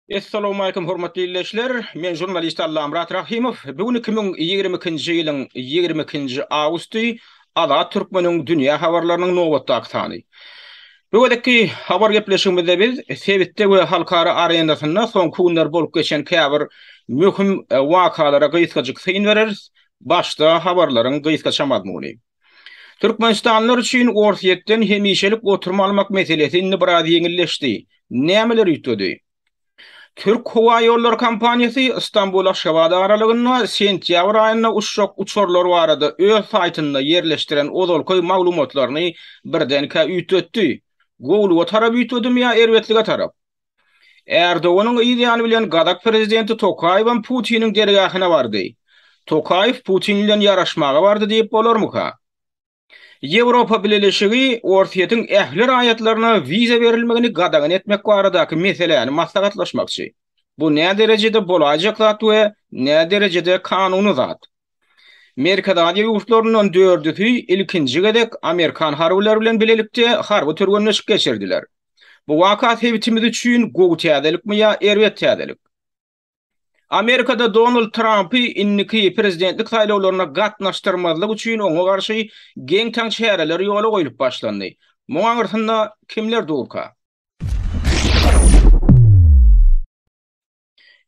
Essalowmaleýkum hormatly ildeşler! Men žurnalist Allamyrat Rahymow. Bu gün iki müň ýigrimi ikinji ýylyň ýigrimi ikinji awgusty. Azat Türkmeniň dünýä habarlarynyň nobatdaky sany. Bu gezekki habar gepleşigimizde biz sebitde we halkara arenasynda soňky günler bolup geçen käbir möhüm wakalara gysgajyk syn bereris, başda habarlaryň gysgaça mazmuny. Türkmenistanlylar üçin Orsýetden hemişelik oturma almak meselesi indi biraz ýeňilleşdi, nämeler üýtgedi? Türk howa ýollary kompaniýasy Stambul-Aşgabat aralygynda sentýabr aýynda uçjak uçarlar barada öz saýtynda ýerleşdiren ozalky maglumatlaryny birdenkä üýtgetdi. Gowulyga tarap üýtgedimi ýa erbetlige tarap? Erdoganyň yz ýany bilen gazak prezidenti Tokaýewem Putiniň dergähine bardy. Tokaýew Putin bilen ýaraşmaga bardy diýip bolarmyka? Ýewropa Bileleşigi Orsýetiň ähli raýatlaryna wiza berilmegini gadagan etmek baradaky meseläni maslahatlaşmakçy. Bu näderejede bolaýjak zat we näderejede kanuny zat? Merkezi Aziýa ýurtlaryndan dördüsi ilkinji gezek amerikan harbylary bilen bilelikde harby türgenleşik geçirdiler. Bu waka sebitimiz üçin gowy täzelikmi ýa erbet täzelik? Amerikada Donald Trampy indiki prezidentlik saýlawlaryna gatnaşdyrmazlyk üçin oňa garşy geň-taň çäreler ýola goýlup başlandy. Muň aňyrsynda kimler durka?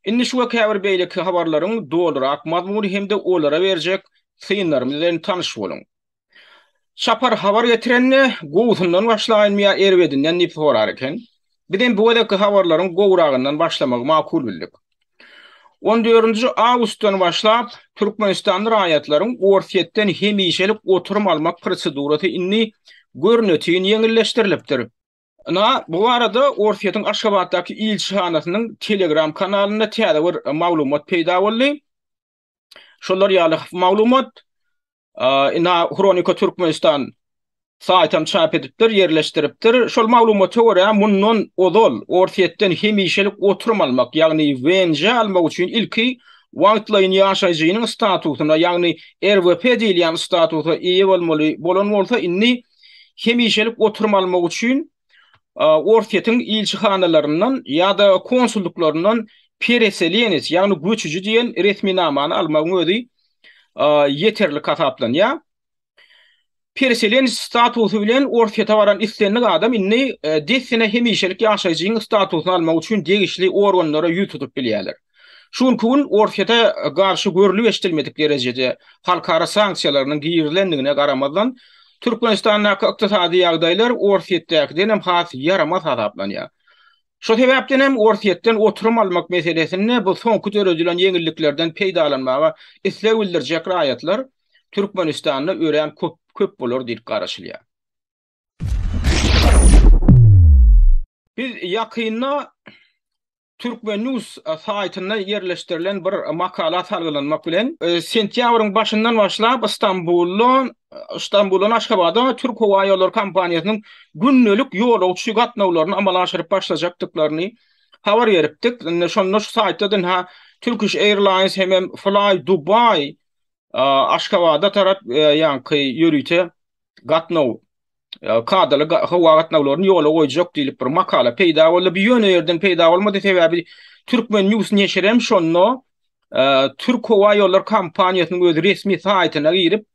Indi şu we käbir beýleki habarlaryň dolurak mazmuny hem-de olara berjek synlarymyz bilen tanyş boluň. Çapar habar getirende, gowusyndan başlaýynmy ýa erbedinden diýip sorar eken. Bizem bu gezekki habarlaryň gowuragyndan başlamagy makul bildik. On dördünji awgustdan başlap, türkmenistanly raýatlaryň Orsýetden hemişelik oturym almak prosedurasy indi görnetin ýeňilleşdirilipdir. Ynha, bu barada Orsýetiň Aşgabatdaky ilçihanasynyň Telegram kanalynda täze bir maglumat peýda boldy. Şolar ýaly maglumat ina Hronika Türkmenistan saýtam çap edipdir, ýerleşdiripdir. Şol maglumata görä, mundan ozal Orsýetden hemişelik oturum almak, ýagny WNJ almak üçin ilki wagtlaýyn ýaşaýjynyň statusyna, ýagny RVP diýilýän statusa eýe bolmaly bolan bolsa, indi hemişelik oturum almak üçin Orsýetiň ilçihanalaryndan ýa-da konsullyklaryndan pereseleniç, ýagny göçüji diýen resminamany almagyň özi ýeterlik hasaplanýar. Pereseleniç statusy bilen Orsýete baran islendik adam indi dessine hemişelik ýaşaýjyň statusyny almak üçin degişli organlara ýüz tutup bilýärler. Şu günki gün Orsýete garşy görlüp-eşidilmedik derejede halkara sanksiýalarynyň girilendigine garamazdan, Türkmenistandaky ykdysady ýagdaýlar Orsýetdäkiden hem has ýaramaz hasaplanýar. Şo sebäpden hem Orsýetden oturum almak meselesinde bu soňky döredilen ýeňilliklerden peýdalanmaga isleg bildirjek raýatlar Türkmenistanda örän köp bolar diýlip garaşylýar. Biz ýakynda Turkmennews saýtynda ýerleşdirilen bir makala salgylanmak bilen, sentýabryň başyndan başlap Stambulda, Stambuldan Aşgabada Türk howa ýollary kompaniýasynyň gündelik ýolagçy gatnawlaryny amala aşyryp başlajakdyklaryny habar beripdik. Indi şonda şu saýtda dynha Turkish Airlines hemem Fly Dubai Aşgabada tarap ýaňky ýörite gatnaw kadaly howa gatnawlaryny ýola goýjak diýlip bir makala peýda boldy. Bu ýöne ýerden peýda bolmady, sebäbi Türkmen News neşiri hem şonda Türk howa ýollar kompaniýasynyň öz resmi saýtyna girip,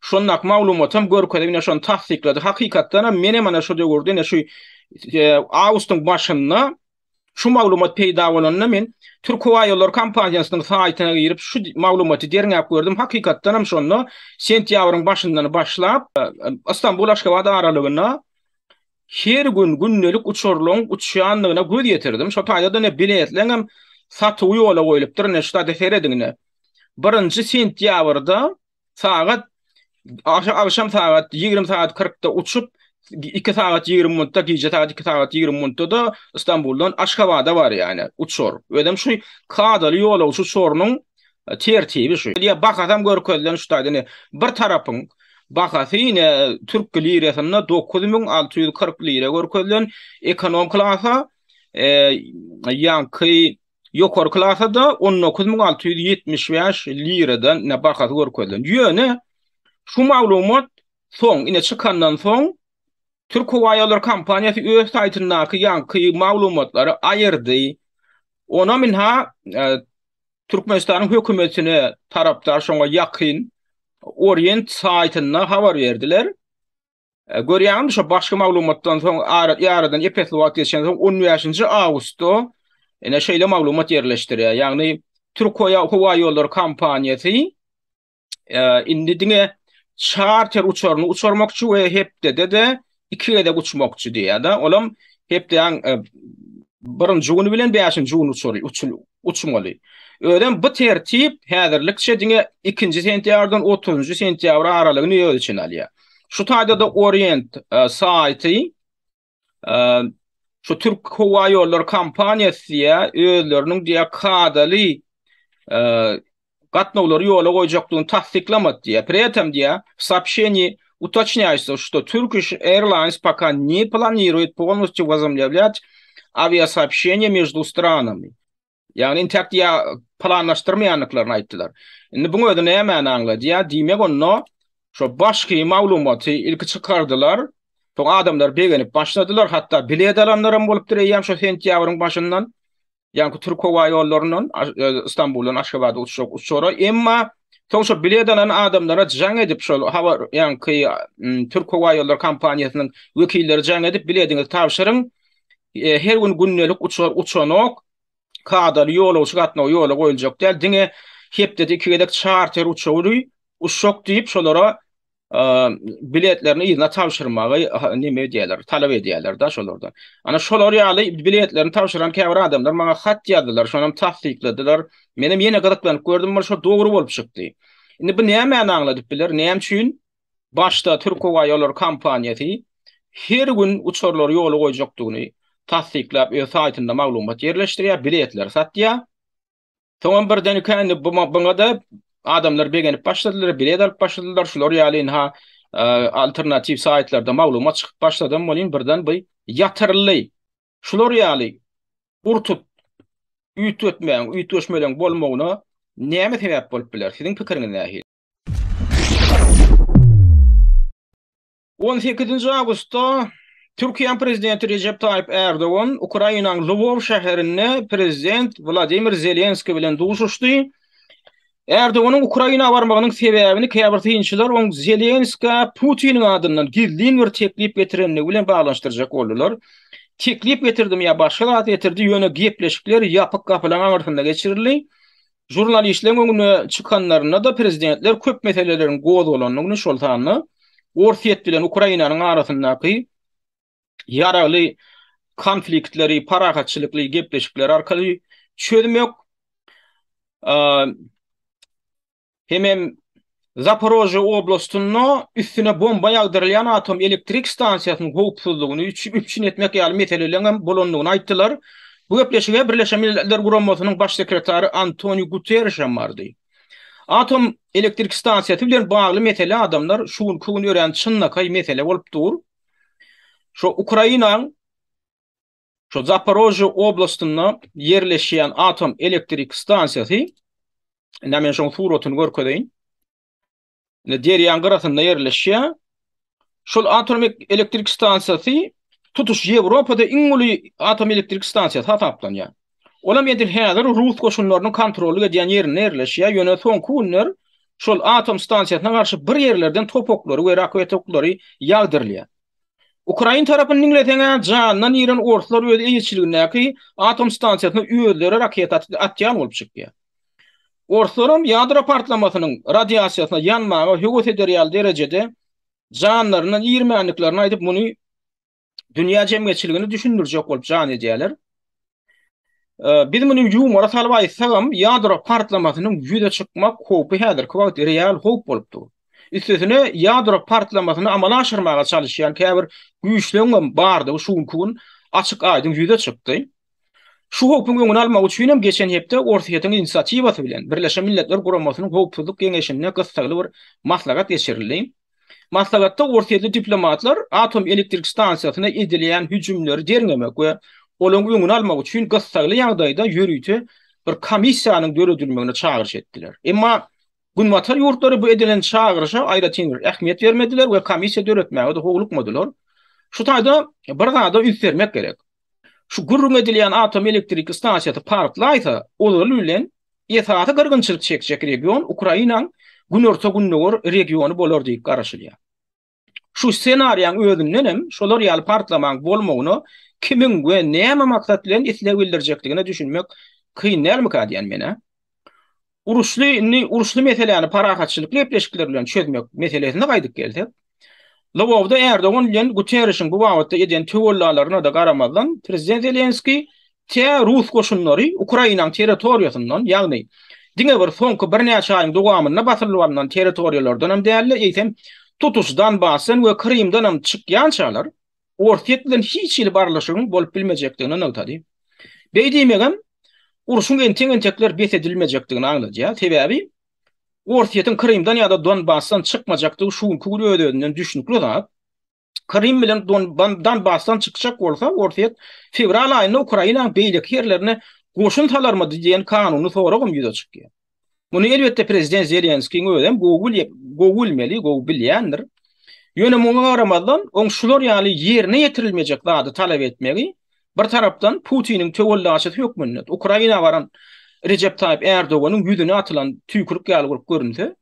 şondaky maglumaty hem görkezip, ine şony tassyklady. Hakykatdan hem men hem ana şu döwürde, ine şu awgustyň başynda Şu maglumat peýda bolanda men Türkhowaýollary kompaniýasynyň saýtyna girip şu maglumaty derňäp gördüm, hakykatdanam şonda sentýabryň başyndan başlap Ystambul-Aşgabat aralygyna her gün gündelik uçarlaryň uçýandygyna göz ýetirdim. Şo taýda-da ine biletleňem satuwy ýola goýlupdyr, ine şu taýda serediň ine. Birinji sentýabrda sagat agşam sagat 20 sagat 40-da uçup 2 sagat 20 minutda gije sagat 2 sagat 20 minutda da Istanbuldan Aşgabada bar yani uçur. Özüm şu kadaly ýol uçur sorunun e, tertibi şu. Ya bakasam görkezilen şu taýda bir tarapyň bahasy ýene türk lirasynda 9640 lira görkezilen ekonom klasa e, ýanky ýokary klasa-da on dokuz müň alty ýüz ýetmiş bäş liradan ine bahasy görkezilen. Ýöne şu maglumat soň, ine çykandan soň Türk howa ýollary kompaniýasy öz saýtyndaky ýaňky maglumatlary aýyrdy. Ona minha e, Türkmenistanyň hökümetine tarapdar şoňa ýakyn Orient saýtynda habar berdiler. E, görýäňmi, şo başga maglumatdan soň ýaradan epesli wagt geçen soň 15-nji awgustda ene şeýle maglumat ýerleşdirýär. Ýagny Türk howa ýollary kompaniýasy e, indi diňe çarter uçaryny uçurmakçy we hepdede de iki gezek uçmakçy diýýär-de. Olam hepdäň e, birinji güni bilen bäşinji gün uçury uçmaly. Özem bu tertip häzirlikçe diňe 2-nji sentýardan 30-njy sentýabr aralygyny öz içine alýar. Şu taýda-da Orient saýty şu Türk howa ýollary kompaniýasy diýýä, özleriniň diýýä kadaly gatnawlary ýola goýjakdygyny tassyklamady diýýä. Pri etem diýýä, w soobşeniýi utocnýaýtsza, şto Turkish Airlines poka ne planiruýet polnostyu wozomlewlýat awiasoobşeniýe mieždu stranami. Ýagny intäk diýä planlaşdyrmaýandyklaryny aýtdylar. Indi buň özi nämäni aňladýar? Diýmek onda şo başky maglumaty ilki çykardylar, soň adamlar begenip başladylar, hatda bilet alanlaram bolupdyr eýýäm şo sentýabryň başyndan, ýaňky türk howa ýollaryndan Stambuldan Aşgabada uçjak uçara, emma soň şo bilet alan adamlara jaň edip şol habar ýaňky türk howa ýollary kompaniýasynyň wekilleri jaň edip bilediňizi tabşyryň, Her gün gündelik uçar uçanok. Kadaly ýolagçy gatnawy ýola goýuljak däl. Diňe hepdede iki gezek çarter uçarydy. Uçjak diýip, şolara biletlerini yzyna tabşyrmagy näme edýärler, talap edýärler-de şolardan. Ana şolar ýaly biletlerini tabşyran käbir adamlar maňa hat ýazdylar, şonam tassykladylar. Menem ýene gyzyklanyp gördüm, bir şo dogry bolup çykdy. Indi bu nämäni aňladyp biler, näme üçin Başda Türkhowaýollary kompaniýasy her gün uçarlary ýola goýjakdygyny tassyklap öz saýtynda maglumat ýerleşdirýär, biletleri satýar. Soňam birdenikä indi buňa-da adamlar begenip başladylar, bilet alyp başladylar, şular ýaly ynha alternatiw saýtlarda maglumat çykyp başladam welin birden bu ýatyryldy. Şular ýaly gurtup üýtgetmäň, üýtgeşmeleň bolmagyna näme sebäp bolup biler? Siziň pikiriňiz nähili? On sekizinji awgustda Türkiýäň prezidenti Rejep Taýyp Ärdogan Ukrainanyň Lwow şäherinde prezident Wladimir Zelenskiý bilen duşuşdy. Ärdoganyň Ukraina barmagynyň sebäbini käbir synçylar oň Zelenskä Putiniň adyndan gizlin bir teklip getirendigi bilen baglanyşdyrjak boldular. Teklip getirdimi ýa başga zat getirdi, ýöne gepleşikler ýapyk gapylaryň aňyrsynda geçirildi. Žurnalistleriň öňüne çykanlarynda-da prezidentler köp meseleleriň gozgalandygyny, şol sanda Orsýet bilen Ukrainanyň arasyndaky ýaragly konfliktleri parahatçylykly gepleşikler arkaly çözmek hemem Zaporojýe oblastynda üstüne bomba ýagdyrylýan atom elektrik stansiýasynyň howpsuzlygyny üpjün etmek ýaly meseleleriň hem bolandygyny aýtdylar. Bu gepleşige Birleşen Milletler Guramasynyň Baş sekretary Antoniu Guterriş hem bardy. Atom elektrik stansiýasy bilen bagly mesele adamlar şu günki gün örän çynlakaý mesele bolup dur. Şu Ukrainaň. Şu Zaporojje oblastynda ýerleşýän atom elektrik stansiýasy, indi men şoň suratyny görkezeýin. Indi derýaň gyrasynda ýerleşýär. Şol atom elektrik stansiýasy tutuş Ýewropada iň uly atom elektrik stansiýasy hasaplanýar. Olam edil häzir rus goşunlarynyň kontrollyk edýän ýerinde ýerleşýär, ýöne soňky günler şol atom stansiýasyna garşy bir ýerlerden topaklary we raketa oklary ýagdyrylýar. Ukrain tarapyny diňleseň-ä, janyndan iren orslar öz eýeçiligindäki atom stansiýasyna özleri raketa atýan bolup çykýar. Orslaram ýadro partlamasynyň radiasiýasyna ýanmaga höwes eder ýaly derejede janlaryndan irmändiklerini aýdyp, muny dünýä jemgyýetçiligini düşündirjek bolup jan edýärler. Biz muny ýumora salyp aýtsagam, ýadro partlamasynyň ýüze çykmak howpy häzirki wagt real howp bolup dur. Üstesine, ýadro partlamasyny amala aşyrmaga çalyşýan käbir güýçleň hem bardygy şu günki gün açyk-aýdyň ýüze çykdy. Şu howpuň öňüni almak üçin hem geçen hepde Orsýetiň inisiatiwasy bilen Birleşen Milletler Guramasynyň Howpsuzlyk geňeşinde gyssagly bir maslahat geçirildi. Maslahatda orsýetli diplomatlar atom elektrik stansiýasyna edilýän hüjümleri derňemek we olaryň öňüni almak üçin gyssagly ýagdaýda ýörite bir komissiýanyň döredilmegine çagyryş etdiler. Emma Günbatar ýurtlary bu edilen çagyryşa aýratyn bir ähmiýet bermediler we komissiýa döretmäge-de howlukmadylar. Şu taýda bir zada üns bermek gerek. Şu gürrüň edilýän atom elektriki stansiýasy partlaýsa, ozaly bilen esasy gyrgynçylyk çekjek region Ukrainanyň günorta-gündogar regiony bolar diýip garaşylýar. Şu ssenariýaň özünden hem şolar ýaly partlamaň bolmagyna kimiň we näme maksat bilen isleg bildirjekdigine düşünmek kyn dälmikä diýýän men-ä. Uruşly indi uruşly meseläni parahatçylykly gepleşikler bilen çözmek meselesine gaýdyp gelsek, Lwowda Erdogan bilen Guterrişiň bu babatda eden töwellalaryna-da garamazdan, prezident Zelenskiý tä rus goşunlary Ukrainanyň territoriýasyndan, ýagny diňe bir soňky birnäçe aýyň dowamynda basylyp alnan territoriýalardanam däl-de, eýsem, tutuş Donbasdan we Krymdanam çykýançalar, Orsýet bilen hiç hili barlaşygyň bolup bilmejekdigini nygtady. Beý diýmegem urşuň entek-entekler bes edilmejekdigini aňladýar, sebäbi Orsýetiň Krymdan ýa-da Donbasdan çykmajakdygy şu günki gün öz-özünden düşnükli zat. Krym bilen Donbasdan çykjak bolsa, Orsýet fewral aýynda Ukrainanyň beýleki ýerlerine goşun salarmydy diýen kanuny soragam ýüze çykýar. Muny elbetde prezident Zelenskiň özem gowy bilýär, gowy bilmeli, gowy bilýändir. Ýöne muňa garamazdan, oň şular ýaly ýerine ýetirilmejek zady talap etmegi bir tarapdan Putiniň töwellaçysy hökmünde Ukraina baran Rejep Taýyp Ärdoganyň ýüzüne atylan tüýkürik ýaly bolup görünse,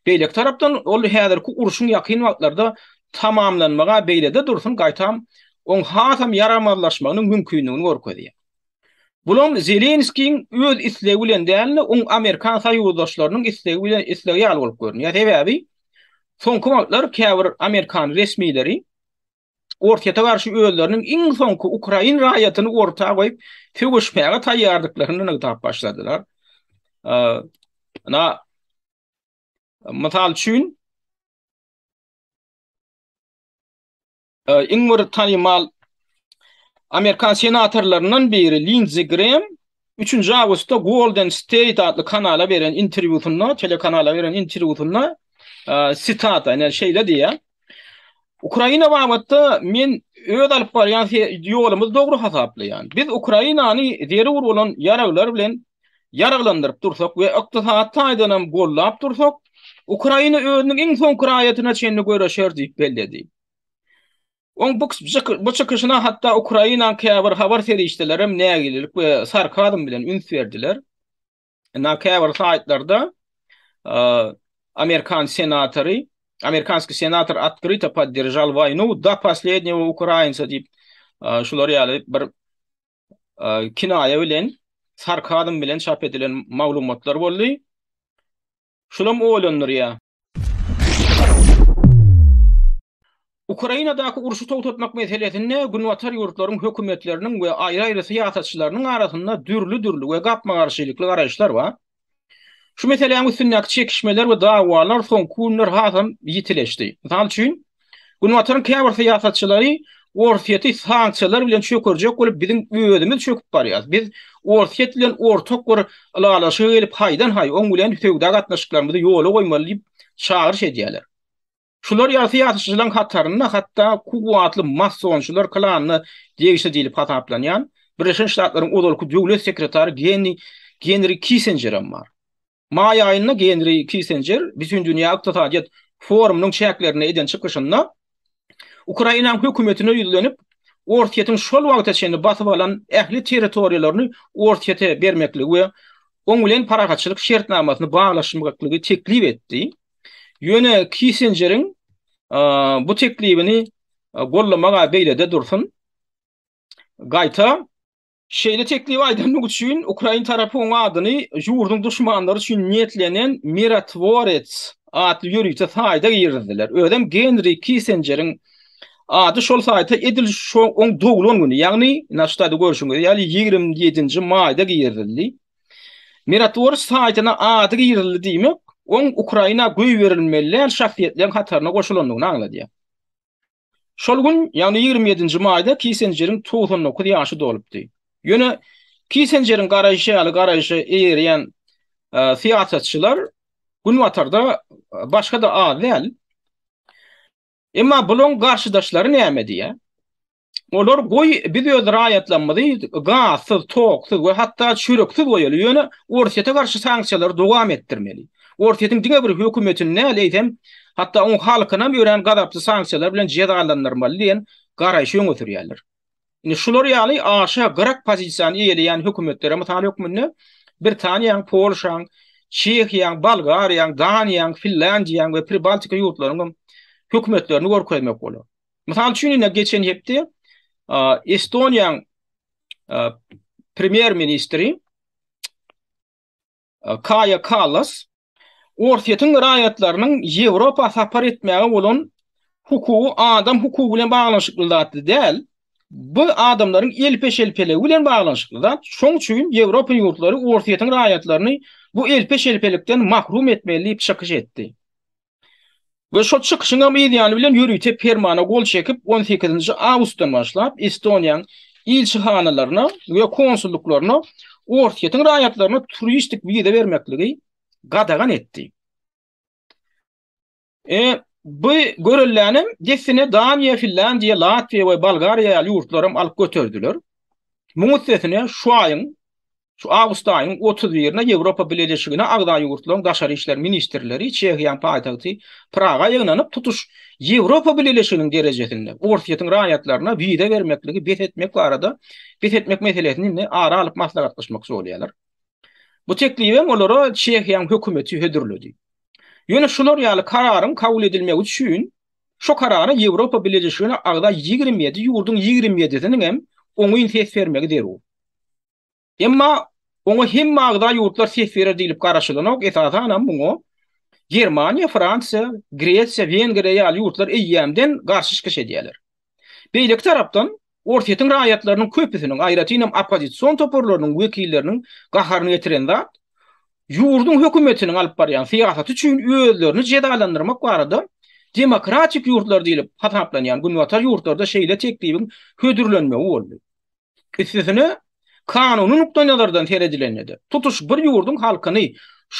beýleki tarapdan ol häzirki urşuň ýakyn wagtlarda tamamlanmagy beýlede dursun gaýtam oň hasam ýaramazlaşmagynyň mümkindigini görkezýär. Bulam Zelenskiýiň öz islegi bilen däl-de, oň amerikan soýuzdaşlarynyň islegi bilen islegi ýaly bolup görünýär. Sebäbi soňky wagtlar käbir amerikan resmileri Orsýete garşy özleriniň iň soňky ukrain raýatyny orta goýup, söweşmäge taýýardyklaryny nygtap başladylar. Mysal üçin, Iň bir tanymal amerikan senatorlaryndan biri Linzi Grem üçünji awgustda Golden State atly kanala beren interwýusynda, telekanala beren interwýusynda sitata, ine şeýle diýýär, Ukraina babatda men öz alyp barýan ýolumyzy dogry hasaplaýan. Biz Ukrainany zerur bolan ýaraglar bilen ýaraglandyryp dursak we ykdysady taýdan hem goldap dursak, Ukraina özüniň iň soňky raýatyna çenli göreşer diýip belledi. Oň bu çykyşyna hatda Ukrainanyň käbir habar serişdeleri hem nägilelik we sarkazm bilen üns berdiler. Ynha käbir saýtlarda amerikan senatory, amerikanskiý senator otkryto podderžal waýnu da poslednýego ukrainca diýip şular ýaly bir kinaýa bilen, sarkazm bilen çap edilen maglumatlar boldy. Şulam oýlandyrýar. Ukrainadaky urşy togtatmak meselesinde Günbatar ýurtlaryň hökümetleriniň we aýry-aýry syýasatçylarynyň arasynda dürli-dürli we gapma-garşylykly garaýyşlar bar. Şu meseläň üstündäki çekişmeler we dawalar soňky günler hasam ýitileşdi. Mysal üçin, Günbataryň käbir syýasatçylary Orsýeti sanksiýalar bilen çökerjek bolup, biziň özümiz çöküp barýarys. Biz Orsýet bilen ortak bir ylalaşyga gelip, haýdan-haý, oň bilen söwda gatnaşyklarymyzy ýola goýmaly diýip, çagyryş edýärler. Şular ýaly syýasyçylaryň hatarynda hatda kuwwatly masonçylar klanyna degişli diýlip hasaplanýan Birleşen Ştatlaryň ozalky döwlet sekretary Genni Genri Kissenjer hem bar. Maý aýynda Genri Kissenjer Bütindünýä ykdysadyýet forumynyň çäklerinde eden çykyşynda Ukrainanyň hökümetine ýüzlenip, Orsýetiň şol wagta çenli basyp alan ähli territoriýalaryny Orsýete bermekligi we oň bilen parahatçylyk şertnamasyny baglaşmaklygy teklip etdi. Ýöne Kissinjeriň bu teklibini gollamagy beýlede dursun, gaýta şeýle teklibi aýdandygy üçin ukrain tarapy oň adyny ýurduň duşmanlary üçin niýetlenen Mirotvorets atly ýörite saýta girizdiler. Özem Genri Kissinjeriň ady şol saýta edil şo oň doglan güni, ýagny, naştady görşüňiz ýaly, ýigrimi ýedinji maýda girizildi. Mirotwors saýtyna ady girizildi diýmek, oň Ukraina goýberilmeli däl şahsyýetleriň hataryna goşulandygyny aňladýar. Şol gün, ýagny ýigrimi ýedinji maýda Kissenjeriň togsan dokuz ýaşy dolupdy. Ýöne Kissenjeriň garaýşy ýaly garaýşa eýerýän syýasatçylar Günbatarda başga-da az däl. Emma bulaň garşydaşlary näme diýýär? Olar goý biz öz raýatlarymyzy gazsyz, toksuz we hatda çöreksiz goýaly, ýöne Orsýete garşy sanksiýalary dowam etdirmeli. Orsýetiň diňe bir hökümetini däl, eýsem, hatda oň halkynam örän gazaply sanksiýalar bilen jezalandyrmaly diýen garaýşy öňe sürýärler. Indi şular ýaly aşa gyrak pozisiýany eýeleýän hökümetlere mysal hökmünde Britaniýaň, Polşaň, Çehiýaň, Bolgariýaň, Daniýaň, Finlandiýaň we Pribaltika ýurtlarynyň hökümetlerini görkezmek bolar. Mysal üçin, ine geçen hepde Estoniýanyň premýer ministri Kaja Kallas Orsýetiň raýatlarynyň Ýewropa sapar etmäge bolan hukugy adam hukugy bilen baglanyşykly zat däl. Bu adamlaryň elpe-şelpeligi bilen baglanyşykly zat. Şoň üçin Ýewropa ýurtlary Orsýetiň raýatlaryny bu elpe-şelpelikden mahrum etmeli diýip çykyş etdi. We şol çykyşyň hem yz ýany bilen ýörite permana gol çekip, on sekizinji awgustdan başlap Estoniýaň ilçihanalaryna we konsullyklaryna Orsýetiň raýatlaryna turistik wiza bermekligi gadagan etdi. E, bu görelläni dessine Daniýa, Finlandiýa, Latwiýa we Bolgariýa ýaly ýurtlar hem alyp göterdiler. Muň üstesine şu aýyň Şu awgust aýynyň otuz birine Ýewropa Bileleşigine agza ýurtlaryň daşary işler ministrleri Çehiýanyň paýtagty Praga ýygnanyp, tutuş Ýewropa Bileleşiginiň derejesinde Orsýetiň raýatlaryna wiza bermekligi bes etmek barada bes etmek meselesini ara alyp maslahatlaşmakçy bolýarlar. Bu teklibi hem olara Çehiýanyň hökümeti hödürledi. Ýöne şular ýaly kararyň kabul edilmegi üçin şu karara Ýewropa Bileleşigine agza ýigrimi ýedi ýurduň ýigrimi ýedisiniň hem oňyn ses bermegi zerur. Emma oňa hemme agza ýurtlar ses berer diýlip garaşylanok, esasanam muňa Germaniýa, Fransiýa, Gresiýa, Wengriýa ýaly ýurtlar eýýämden garşy çykyş edýärler. Beýleki tarapdan, Orsýetiň raýatlarynyň köpüsiniň, aýratynam oppozision toparlarynyň wekilleriniň gaharyny getiren zat, ýurduň hökümetiniň alyp barýan syýasaty üçin özlerini jezalandyrmak barada demokratik ýurtlar diýlip hasaplanýan Günbatar ýurtlarda şeýle teklibiň hödürlenmegi boldy. Üstesine, kanuny nukdaýnazardan seredilende-de, tutuş bir ýurduň halkyny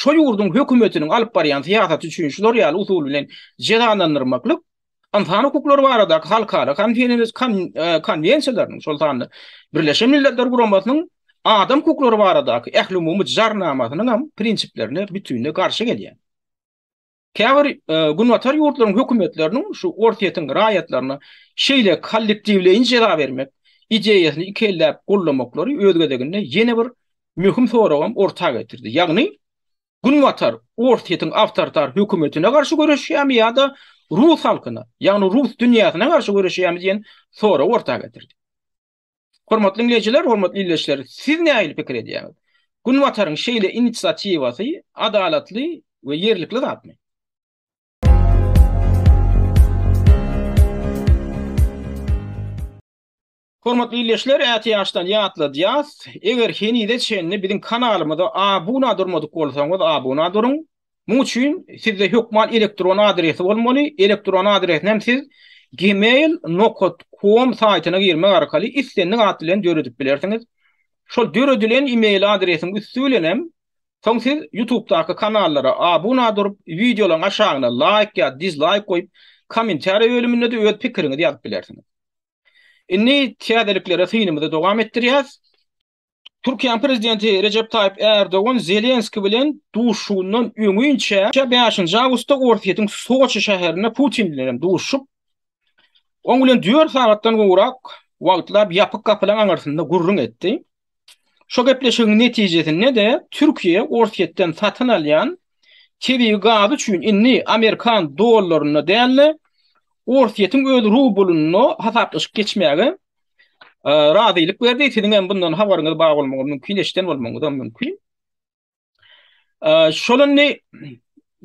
şo ýurduň hökümetiniň alyp barýan syýasaty üçin şular ýaly usul bilen jezalandyrmaklyk ynsan hukuklary baradaky halkara konwensiýalarynyň, şol sanda Birleşen Milletler Guramasynyň Adam hukuklary baradaky ählumumy jarnamasynyň hem prinsiplerine bütinleý garşy gelýär. Käbir Günbatar ýurtlaryň hökümetleriniň şu Orsýetiň raýatlaryna şeýle kollektiwleýin jeza bermek ideýasyny iki elläp goldamaklary öz gezeginde ýene bir möhüm soragam orta getirdi. Ýagny, Günbatar Orsýetiň awtoritar hökümetine garşy göreşýärmi ýa-da rus halkyna, ýagny rus dünýäsine garşy göreşýärmi diýen soragy orta getirdi. Hormatly diňleýjiler, hormatly ildeşler, siz nähili pikir edýäňiz? Günbataryň şeýle inisiatiwasy adalatly we ýerlikli zatmy? Hormatly ildeşler, ätiýaçdan ýatladýas, eger henize çenli biziň kanalymyza abuna durmadyk bolsaňyz abuna duruň, Muň üçin sizde hökman elektron adresi bolmaly, elektron adresini hem siz gmail nokat kom saýtyna girmek arkaly islendik at bilen döredip bilersiňiz. Şol döredilen email adresiň üsti bilen hem soň siz YouTubedaky kanallara abuna durup, wideolaryň aşagyna laýk ýa dizlaýk goýup, kommentariýa bölüminde-de öz pikiriňizi ýazyp bilersiňiz. Indi täzeliklere synymyzy dowam etdirýäs. Türkiýäniň prezidenti Rejep Taýyp Erdogan Zelenski bilen duşuşygyndan öňinçä bäşinji awgustda Orsýetiň Soçi şäherinde Putin bilen hem duşuşyp, oň bilen dört sagatdan gowrak wagtlap ýapyk gapylaryň aňyrsynda gürrüň etdi. Şo gepleşigiň netijesinde-de Türkiýe Orsýetden satyn alýan tebigy gazy üçin indi amerikan dollarynda däl-de, Orsýetiň öz rublynda hasaplaşyk geçmäge razylyk berdi. Siziň hem bundan habaryňyz bar bolmagy mümkin, eşiden bolmagyňyzam mümkin. Şol indi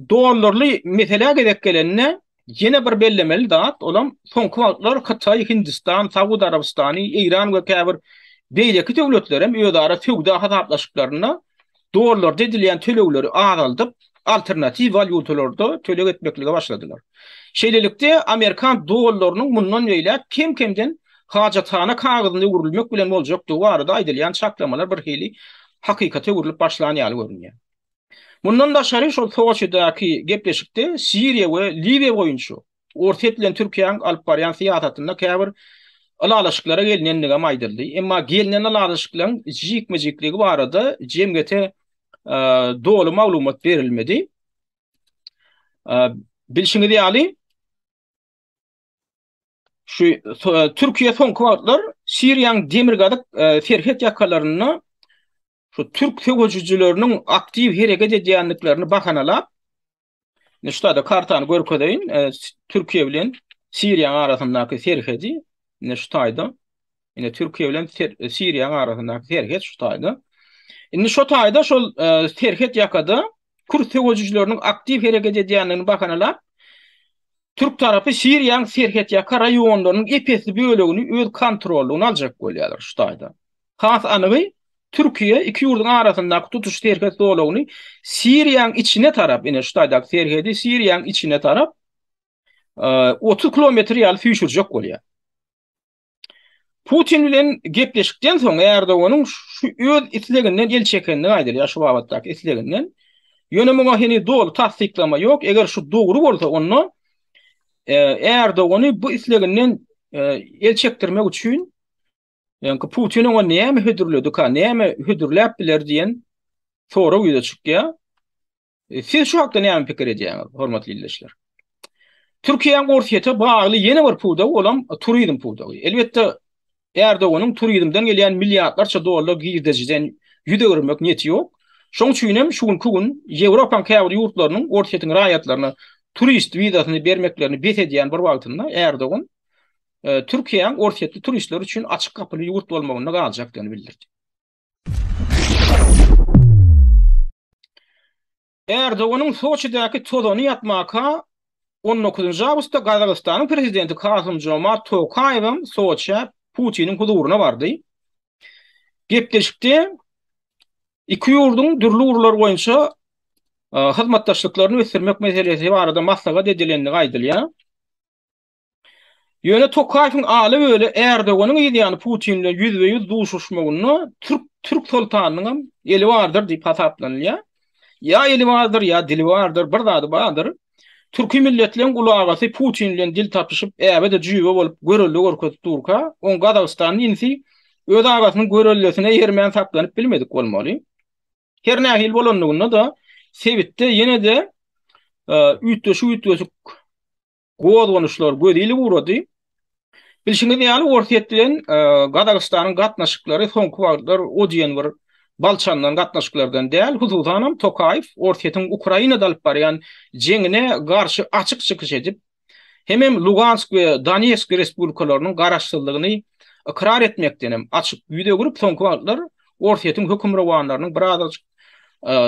dollarly meselä gezek gelende, ýene bir bellemeli zat, olam soňky wagtlar Hytaý, Hindistan, Saud Arabystany, Eýran we käbir beýleki döwletler hem özara söwda hasaplaşyklarynda dollarda edilýän tölegleri azaldyp, alternatiw walýutalarda töleg etmeklige başladylar. Şeýlelikde, amerikan dollarynyň mundan beýläk kem-kemden hajathana kagyzyna öwrülmek bilen boljakdygy barada aýdylýan çaklamalar birhili hakykata öwrülip başlan ýaly görünýär. Mundan daşary, şol Soçidaky gepleşikde Siriýa we Liwiýa boýunça Orsýet bilen Türkiýäň alyp barýan syýasatynda käbir ylalaşyklara gelnendigem aýdyldy. Emma gelnen ylalaşyklaryň jikme-jikligi barada jemgyýete doly maglumat berilmedi. Bilşiňiz ýaly, şu Türkiýe soňky wagtlar Siriýanyň demirgazyk serhet ýakalarynda şu türk söweşijileriniň aktiw hereket edýändiklerini bahanalap, Indi şuda kartany görkezeýin. E, Türkiýe bilen Siriýanyň arasyndaky serhedi indi şu taýda. Indi Türkiýe bilen e, Siriýanyň arasyndaky serhet şu taýda. Indi şu taýda şol e, serhet ýakada kürt söwüjileriniň aktiw hereket edýändigini bahanalap Türk tarapy Siriýanyň serhet ýaka raýonlarynyň epesli bölegini öz kontrollygyna aljak bolýarlar şu taýda. Has anygy, Türkiýe iki ýurduň arasyndaky tutuş serhet zolagyny Siriýanyň içine tarap, ine şu taýdaky serhedi Siriýanyň içine tarap otuz kilometr ýaly süýşürjek bolýar. Putin bilen gepleşikden soň Erdoganyň şu öz isleginden el çekendigi aýdylýar, şu babatdaky isleginden. Ýöne muňa heniz doly tassyklama ýok. Eger şu dogry bolsa, onda Erdogany bu isleginden el çekdirmek üçin Ýöňki Putin oňa näme hödürledika, näme hödürläp biler diýen sorag ýüze çykýar. E, siz şu hakda näme pikir edýäňiz, hormatly ildeşler? Türkiýäň Orsýete bagly ýene bir pudagy bolan turizm pudagy. Elbetde Erdoganyň turizmden gelýän milliardlarça dollar girdejiden ýüz öwürmek niýeti ýok. Şoň üçin hem şu günki gün Ýewropaň käbir ýurtlarynyň Orsýetiň raýatlaryna turist wizasyny bermeklerini bes edýän bir wagtynda Erdogan Türkiýäň orsýetli turistler üçin açyk gapyly ýurt bolmagynda galjakdygyny bildirdi. Erdoganyň Soçidäki tozany ýatmaka on dokuzynjy awgustda Gazagystanyň prezidenti Kasym-Jomart Tokaýew hem Soçä Putiniň huzuryna bardy. Gepleşikde iki ýurduň dürli ugurlar boýunça hyzmatdaşlyklaryny ösdürmek meselesi barada maslahat edilendigi aýdylýar. Ýöne Tokaýewiň Aly Weli Ärdoganyň yz ýany Putin bilen ýüzbe-ýüz duşuşmagynda türk türk soltanynyň hem eli bardyr diýip hasaplanylýar. Ýa eli bardyr, ýa dili bardyr, bir zady bardyr. Türki milletleň uly agasy Putin bilen dil tapyşyp, äbe-de jüýbe bolup görelde görkezip durka, oň Gazagystanly inisi öz agasynyň görellesine eýermän saklanyp bilmedik bolmaly. Her nähili bolanlygynda-da, sebitde ýene-de üýtgeşik-üýtgeşik Gozganyşlar göz ýyly ugrady. Bilşiňiz ýaly, Orsýet bilen Gazagystanyň gatnaşyklary soňky wagtlar o diýen bir bal çalnan gatnaşyklardan däl. Hususanam Tokaýew Orsýetiň Ukrainada alyp barýan jeňine garşy açyk çykyş edip, hemem Lugansk we Donetsk respublikalarynyň garaşsyzlygyny ykrar etmekdenem açyk ýüz öwrüp, soňky wagtlar Orsýetiň hökümrowanlarynyň birazajyk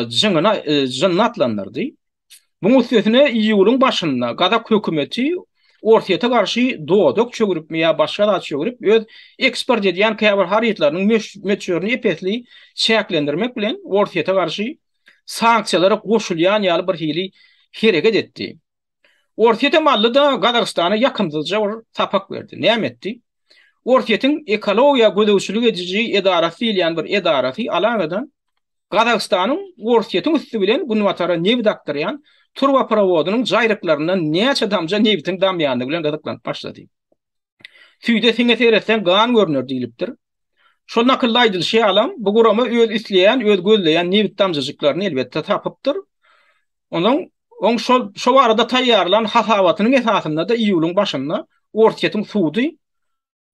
jynyna jynyny atlandyrdy. Muň üstesine iýulyň başynda gazak hökümeti Orsýete garşy dodak çöwrüpmi ýa başga zat çöwrüp öz eksport edýän käbir harytlarynyň möçberini ep-esli çäklendirmek bilen Orsýete garşy sanksiýalara goşulýan ýaly bir hili hereket etdi. Orsýete mally-da Gazagystana ýakymsyzja bir sapak berdi. Näme etdi? Orsýetiň ekologiýa gözegçilik ediji edarasy diýilýän bir edarasy aladadan Gazagystanyň Orsýetiň üsti bilen günbatara nebit akdyrýan turbaprowodynyň jaýryklaryndan näçe damja nebitiň damýandygy bilen gyzyklanyp başlady. Süýde siňe seretseň gan görner diýlipdir. Şol nakylda aýdylyşy ýalam, bu gurama öz isleýän, öz gözleýän nebit damjajyklaryny elbetde tapypdyr. Onuň oň şol şo barada taýýarlan hasabatynyň esasynda-da iýulyň başynda Orsýetiň sudy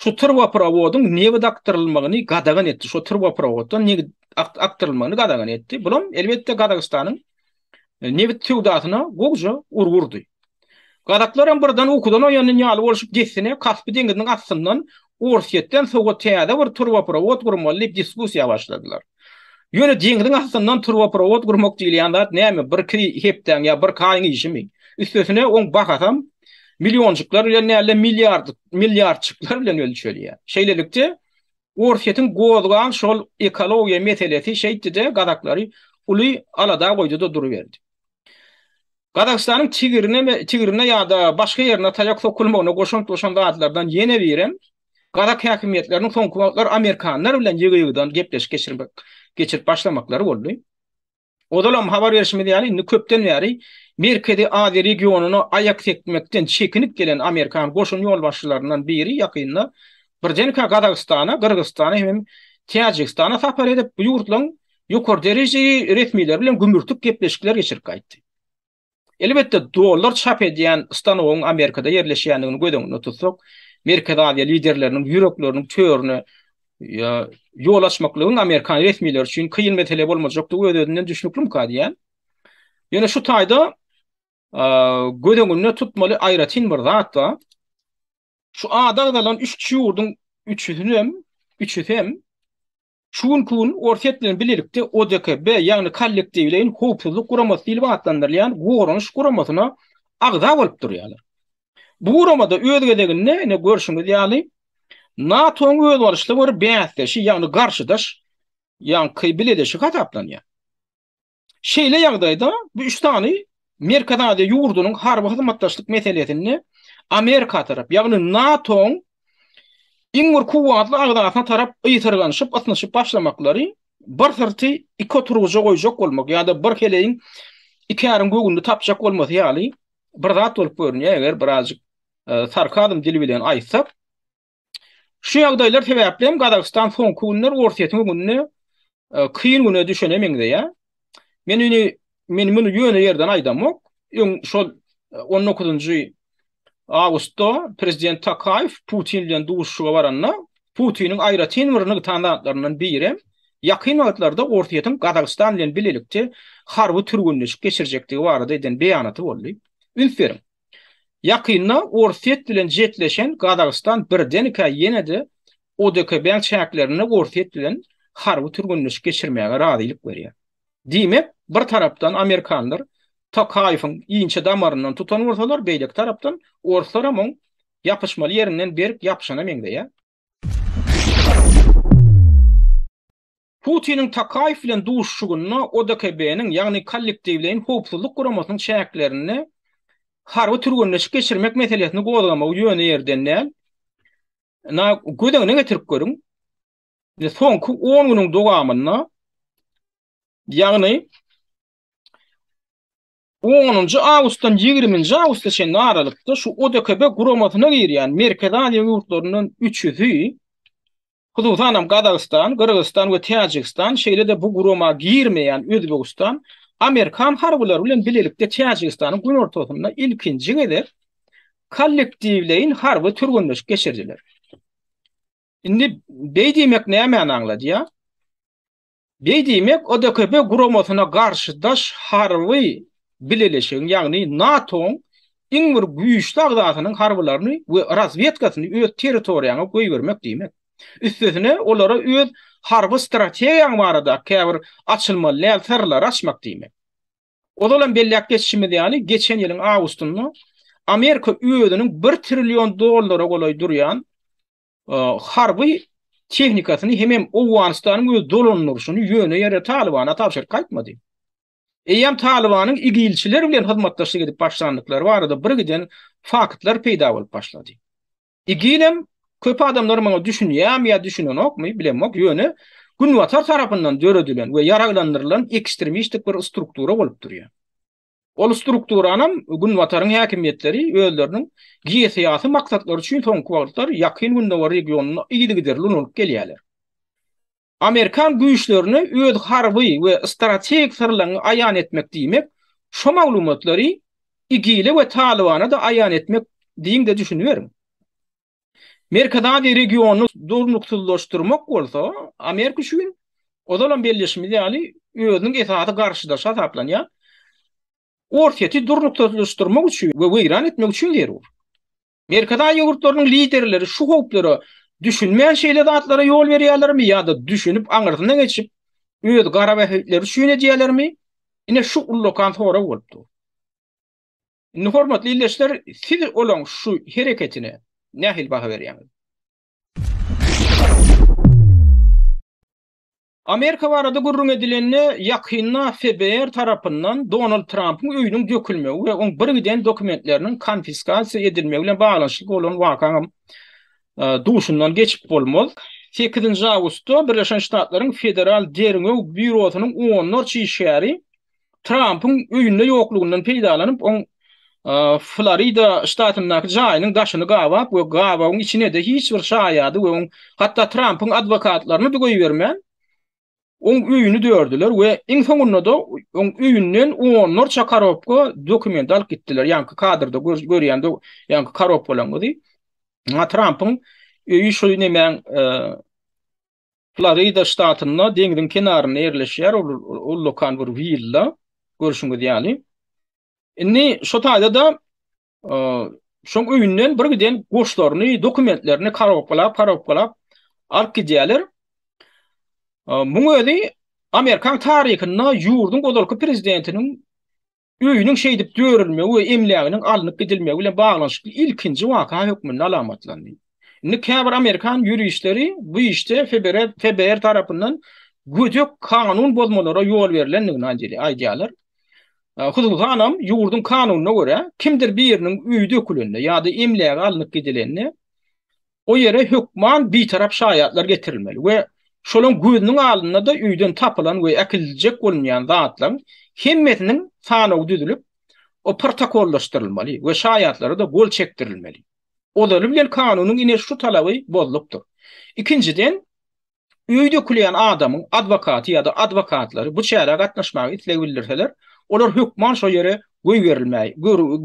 şu turboprowodyň nebit akdyrylmagyny gadagan etdi, şu turboprawoddan nebit akdyrylmagyny gadagan etdi. Bulam elbetde Gazagystanyň e, nebit söwdasyna gowja urgy urdy. Gazaklar hem birden ukudan oýanýan ýaly bolşup dessine Kaspy deňiziniň astyndan Orsýetden sowa täze bir turboprowod gurmaly diýip diskussiýa başladylar. Ýöne deňziň astyndan turboprovod gurmak diýilýän zat näme, birki hepdäň ýa birki aýyň işimi? Üstesine oň bahasam millionjyklar bilen däl-de milliardjyklar bilen ölçelýär. Şeýlelikde, Orsýetiň gozgan şol ekologiýa meselesi şeýtdi-de, gazaklary uly alada goýdy-da duruberdi. Gazagystanyň tigirine ýa-da başga ýerine taýak sokulmagyna goşant goşan zatlardan ýene birem, gazak häkimiýetleriniň soňky wagtlar amerikanlar bilen ýygy-ýygydan gepleşik geçirip başlamaklary boldy. Ozalam habar berşimiz ýaly, indi köpden bäri Merkezi Aziýa regionyna aýak sekmekden çekinip gelen amerikan goşun ýolbaşçylaryndan biri ýakynda birdenkä Gazagystana, Gyrgyzystana hem Täjigistana sapar edip, bu ýurtlaryň ýokary derejeli resmiler bilen gümürtik gepleşikler geçirip gaýtdy. Elbetde, dollar çap edýän stanogyň Amerikada ýerleşýändigini göz öňünde tutsak, Merkezi Aziýa liderleriniň ýürekleriniň törüne ýol açmaklygyň amerikan resmileri üçin kyn mesele bolmajakdygy öz-özünden düşnüklimikä diýýän. Ýöne şu taýda göz öňünde tutmaly aýratyn bir zat bar. Şu ada agzalan üç ýurduň üçüsinem, üçüsem Şu günki gün Orsýet bilen bilelikde ODKB, ýagny Kollektiwleýin howpsuzlyk guramasy diýlip atlandyrylýan goranyş guramasyna agza bolup durýarlar. Bu guramada öz gezeginde, ine görşüňiz ýaly, NATO-nyň özbaşyly bir bäsdeşi, ýagny garşydaş, ýaňky bileleşigi hasaplanýar. Şeýle ýagdaýda bu üç sany Merkezi Aziýa ýurdunyň harby hyzmatdaşlyk meselesinde Amerika tarap, ýagny NATO-nyň iň bir kuwwatly agzasyna tarap ysyrganyşyp, ysnyşyp başlamaklary bir syrty iki oturgyja goýjak bolmak ýa-da bir heleýiň iki äriň göwünini tapjak bolmasy ýaly bir zat bolup görünýär, eger birazjyk e, sarkazm dili bilen aýtsak. Şu ýagdaýlar sebäpli hem Gazagystan soňky günler Orsýetiň öňünde e, kyn güne düşene meňzeýär. Men indi men muny ýöne ýerden aýdamok. Öň şol 19-njy e, awgustda prezident Takaýew Putin bilen duşuşyga baranda Putiniň aýratyn bir nygtan zatlaryndan biri ýakyn wagtlarda Orsýetiň Gazagystan bilen bilelikde harby türgenleşik geçirjekdigi barada eden beýanaty boldy. Üns beriň. Ýakynda Orsýet bilen jetleşen Gazagystan birdenkä ýene-de ODKB-iň çäklerinde Orsýet bilen harby türgenleşik geçirmäge razylyk berýär. Diýmek, bir tarapdan amerikanlar Tokaýewiň inçe damaryndan tutan bolsalar, beýleki tarapdan orslaram oň ýapyşmaly ýerinden berk ýapyşana meňzeýär. Putiniň Tokaýew bilen duşuşygynda ODKB-niň, ýagny Kollektiwleýin howpsuzlyk guramasynyň çäklerinde harby türgenleşik geçirmek meselesini gozgamagy ýöne ýerden däl. Ynha, göz öňüne getirip görüň. Indi soňky on günüň dowamynda, ýagny Onunjy awgustdan ýigriminji awgusta çenli aralykda şu ODKB guramasyna girýän Merkezi Aziýa ýurtlaryndan üçüsi, hususan hem Gazagystan, Gyrgyzystan we Täjigistan, şeýle-de bu gurama girmeýän Özbegistan, amerikan harbylary bilen bilelikde Täjigistanyň günortasynda ilkinji gezek kollektiwleýin harby türgenleşik geçirdiler. Indi beý diýmek nämäni aňladýar? Beý diýmek, ODKB guramasyna garşy daş harby bileleşigiň, ýagny NATO-nyň iň bir güýçli agzasynyň harbylaryny we razwedkasyny öz territoriýaňa goýbermek diýmek. Üstesine, olara öz harby strategiýaň baradaky käbir açylmaly däl syrlary açmak diýmek. Ozalam belläp geçişimiz ýaly, geçen ýylyň awgustynda Amerika özüniň bir trillion dollara golaý durýan harby tehnikasyny hemem Owganystanyň öz dolandyryşyny ýöne ýere Talybana tabşyryp gaýtmady. Eýýäm Talybanyň igilçiler bilen hyzmatdaşlyk edip başlandyklary barada birgiden faktlar peýda bolup başlady. Igilem köp adamlar muňa düşünýärmi ýa düşünenokmy, bilemok, ýöne Günbatar tarapyndan döredilen we ýaraglandyrylan ekstremistik bir struktura bolup durýar. Ol strukturanam Günbataryň häkimiýetleri özleriniň geosyýasy maksatlary üçin soňky wagtlar Ýakyn Gündogar regionyna yzygiderli ulanyp gelýärler. Amerikan güýçlerini öz harby we strategik syrlaryňy aýan etmek diýmek, şo maglumatlary IGIL-e we Talybana-da aýan etmek diýiň-de düşüniberiň. Merkezi Aziýa regionyny durnuksyzlaşdyrmak bolsa, Amerika üçin, ozalam belleşimiz ýaly, özüniň esasy garşydaşy hasaplanýan Orsýeti durnuksyzlaşdyrmak üçin we weýran etmek üçin zerur. Merkezi Aziýa ýurtlarynyň liderleri şu howplara düşünmän şeýle zatlara ýol berýärlermi ýa-da düşünip aňyrsyna geçip, öz gara bähbitleri üçin edýärlermi, ine şu ullakan sorag bolup dur. Indi hormatly ildeşler, siz olaň şu hereketine nähili baha berýäňiz? Amerika barada gürrüň edilende, ýakynda FBR tarapyndan Donald Trampyň öýüniň dökülmegi we oň birgiden dokumentleriniň konfiskasiýa edilmegi bilen baglanyşykly bolan wakaňam duşundan geçip bolmaz. Sekizinji awgustda Birleşen Ştatlaryň Federal derňew býurosynyň onlarça işgäri Trampyň öýünde ýoklugyndan peýdalanyp, oň Florida ştatyndaky jaýynyň daşyny gabap we gabawyň içine-de hiç bir şaýady we oň hatda Trampyň adwokatlaryny-da goýbermän, oň öýüni dördiler we iň soňunda-da oň öýünden onlarça korobka dokument alyp gitdiler. Ýaňky kadrda görýän ýaňky korobkalaryňyzy. Trampyň öýi şu nemäň Florida ştatynda deňziň kenarynda ýerleşýär ol ullakan bir willa, görşüňiz ýaly. Indi şo taýda-da şoň öýünden birgiden goşlaryny, dokumentlerini karobkalap, karobkalap alyp gidýärler. Muň özi amerikan taryhynda ýurduň ozalky prezidentiniň öýüniň şeýdip dörülmegi we emläginiň alnyp gidilmegi bilen baglanyşykly ilkinji waka hökmünde alamatlandy. Indi käbir amerikan ýuristleri bu işde FBR tarapyndan gödek kanun bozmalara ýol berlendigini aýdýarlar. Hususanam, ýurduň kanunyna görä, kimdir biriniň öýi dökülende ýa-da emlägi alnyp gidilende, O ýere hökman bitarap şaýatlar getirilmeli we şolaň gözüniň alynda-da öýden tapylan we äkidiljek bolunýan zatlaň hemmesiniň sanawy düzülip, o protokollaşdyrylmaly we şaýatlara-da gol çekdirilmeli. Ozaly bilen kanunyň ine şu talaby bozlupdyr. Ikinjiden, Öý dökülýän adamyň adwokaty ýa-da adwokatlary bu çärä gatnaşmaga isleg bildirseler, olar hökman şo ýere goýberilmäi,